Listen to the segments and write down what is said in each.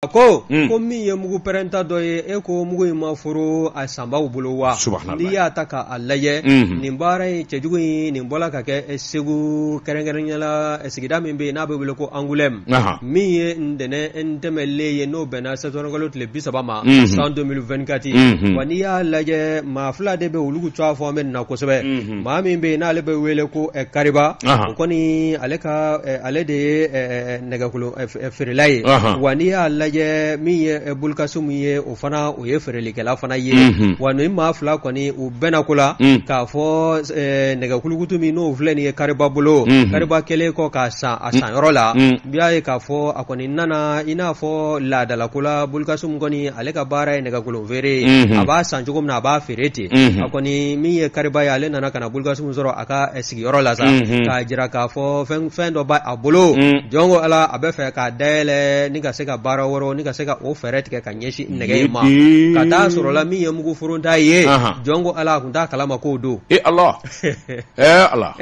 A ko ko min ye mugu pɛrɛnta dɔ ye e ko mugu in ma foro a sanbaw bolo wa n'i y'a ta k'a lajɛ nin baara in cɛjugu in nin bɔla ka kɛ segu kɛrɛnkɛrɛnyala sigida min bɛ yen n'a bɛ wele ko angulɛmu min ye ntɛnɛn tɛmɛlen ye n'o bɛnna sɛtanburukalo tile bi saba ma san deux mille vingt-quatre wa n'i y'a lajɛ maa fila de bɛ olu cogoya fɔ an bɛ na kosɛbɛ maa min bɛ yen n'ale bɛ wele ko kariba o kɔni ale ka ale de ye nɛgɛkolon feerela ye wa n'i y'a lajɛ min ye bulukasumu ye o fana o ye feerelikɛla fana ye wa nin maa fila kɔni u bɛnna ko la k'a fɔ nɛgɛkulukutu min n'o filɛ nin ye kariba bolo kariba kɛlen kɔ k'a san a san yɔrɔ la i b'a ye k'a fɔ a kɔni nana i n'a fɔ laadalako la bulukasumu kɔni ale ka baara ye nɛgɛkolon feere ye a b'a san cogo min na a b'a feere ten a kɔni min ye kariba ye ale nana ka na bulukasumu sɔrɔ a ka sigiyɔrɔ la sa k'a jira k'a fɔ fɛn dɔ b' a bolo jɔn ko ala a bɛ fɛ k'a dayɛlɛ ni ka se ka baara wɛrɛw ni ka se ka o fɛɛrɛ tigɛ ka ɲɛsin nɛgɛ in ma ka taa sɔrɔla min ye mugu forota ye jɔn ko ala tun t'a kalama k'o don e ala ala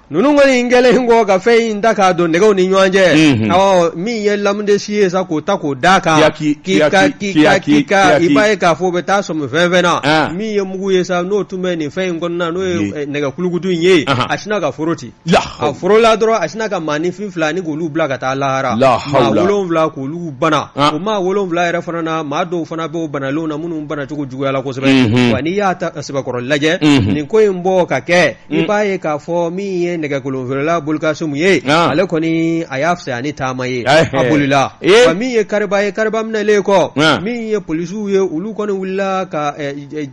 ninnu kɔni in kɛlen kɔ ka fɛn in ta k'a don nɛgɛw ni ɲɔgɔn cɛ ɔ min ye lamudesi ye sa k'o ta k'o da kan k'i ka k'i ka k'i ka i b'a ye k'a fɔ o bɛ taa sɔmi fɛn fɛn na min ye ugu ye sa n'o tun bɛ nin fɛn in kɔnɔna n'o ye eh, nɛgɛkulukutu in ye a sinna ka foro ten a forola dɔrɔn a sinna ka maaninfin fila ni k'olu bila ka taa lahara maa wolonwula k'olu bana ah. o maa wolonwula yɛrɛ fana na maa dɔw fana bɛ o banalenw na minnu banacogo juguyala kosɛbɛ mhm. wa n'i y'a ta sɛbɛkɔrɔ lajɛ mhm. nin ko in bɔ ka kɛ i mm. b'a ye k'a fɔ min ye nɛgɛkolonfeerela bulukasumu ye ah. ale kɔni a y'a fisaya ni taama ye eh, a eh. bolila eh. wa min ye kariba ye kariba minɛlen kɔ ah. min ye polisiw ye olu kɔni wulila ka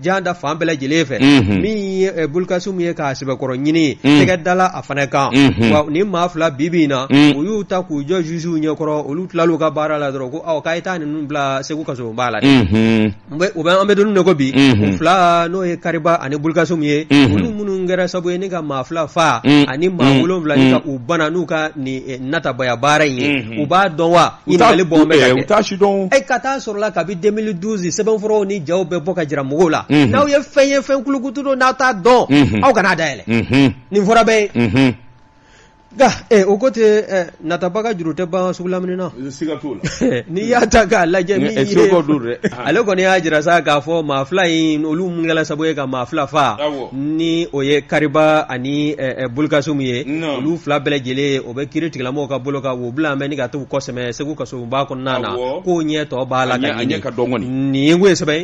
jan da fan bɛɛ lajɛlen fɛ mm-hmm. min ye bulukasumu ye k'a sɛbɛkɔrɔ ɲini mm. tɛgɛ dala a fana kan mm-hmm. wa nin maa fila bi bi in na u y'u ta k'u jɔ zuziw ɲɛkɔrɔ olu tilal'u ka baara la dɔrɔn ko aw k'a ye taa ninnu bila segu kasoba la dɛ mm-hmm. U bɛ an bɛ don min na ko bi u fila n'o ye kariba ani bulukasumu ye olu minnu kɛra sabu ye ni ka maa fila fa ani maa wolonwula ni ka u bana n'u ka nin natabaya baara in ye u b'a dɔn wa ɲininkali bɔ ka kɛ ka taa sɔrɔla kabi deux mille douze sɛbɛnfuraw ni jaw bɛ bɔ ka jira mɔgɔw la n'aw ye fɛn ye fɛn kulukutu don n'aw t'a dɔn aw kan'a dayɛlɛ nin fɔra bɛɛ ye Nka o ko ten natabaga juru tɛ ban sugu lamini na n'i y'a ta k'a lajɛ ale kɔni y'a jira sa k'a fɔ maa fila in olu minnu kɛla sabu ye ka maa fila faa ni o ye kariba ani bulukasumu ye olu fila bɛɛ lajɛlen o bɛ kiiritigɛlamɔgɔw ka bolo kan u bila mɛn ni ka taa u kɔsɛmɛ segu kasoba kɔnɔna na k'o ɲɛ tɔ b'a la nin ye sɛbɛn